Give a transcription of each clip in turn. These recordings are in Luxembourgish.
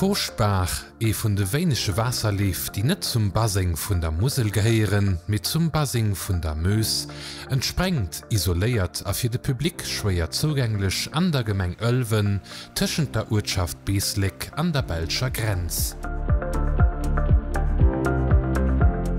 D'Furchtbaach, ee vun de wéinege Waasserleef, déi net zum Baseng vun der Musel gehéieren, mee zum Baseng vun der Meuse, entsprengt isoléiert a fir de Public schwéier zougänglech an der Gemeng Ëlwen, tëschent der Uertschaft Beesléck an der belscher Grenz.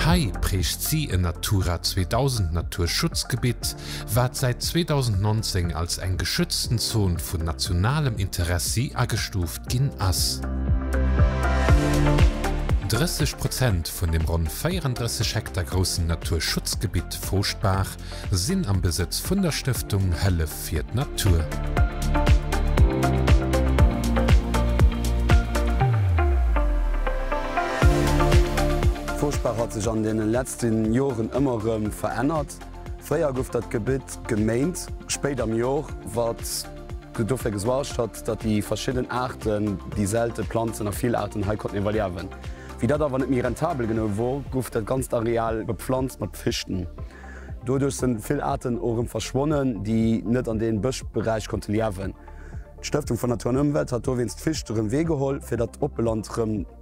Hei prägt si en Natura 2000 Naturschutzgebitt, wat säit 2019 als eng geschützten Zon vun nationalem Interessi agestuuft ginn ass. 30 Prozent vun dem ronn 34 Hektar groussen Naturschutzgebitt Fouschtbaach sinn am Besëtz vun der Stëftung Hëllef fir d'Natur. Fouschtbaach hat sech an deene letzten Joren ëmmer rëm verännert. Fréier gouf dat Gebitt geméint. Spéit am Jor, wat dofir gesuargt hat, datt déi verschidden Aarten, déi selte Planzen a vill Aarten hei konnten iwwerliewen. Wéi dat awer net méi rentabel genou wor, gouf dat ganzt Areal beplanzt mat Fichten. Doduerch sinn vill Aarten och erëm verschwonnen, déi net an deem Bëschberäich konnte liewen. D'Stëftung vun Natur an Ëmwelt hat dowéinst d'Ficht erëm weegeholl, fir datt d'Oppeland erëm.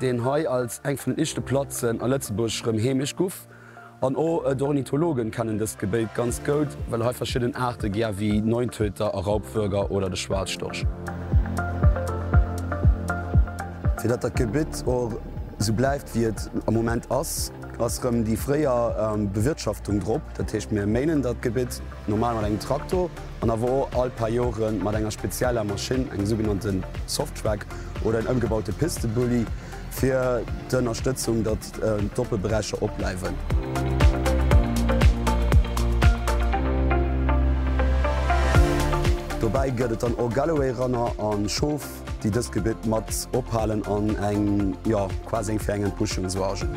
deen hei als eng vun den ischte Platzen a Lëtzebuerg rëm heemesch guff, an o d'Ornithologen kennen dëst Gebéit ganz goud, well hei verschidden Aarte gär wéi Neuntöter a Raubwuerger oder de Schwaarzstorch. Fir datt dat Gebitt och sou bleiwt wéi et am Moment ass, ass rëm déi fréier Bewirtschaftung drop, dat heescht mir méinen dat Gebitt normal mat engem Traktor, an awer och all paar Jore mat enger spezieller Maschinn, engem sougenannte Softtrack oder en ëmgebaute Pistebully, fir d'Ënnerstëtzung, datt d'Doppelberäicher opbleiwen. Dobäi gëtt et dann och Galloway-Ranner a Schof. déi dëst Gebitt mat ophalen an eng, jo, quasi eng fir eng Entbuschung suargen.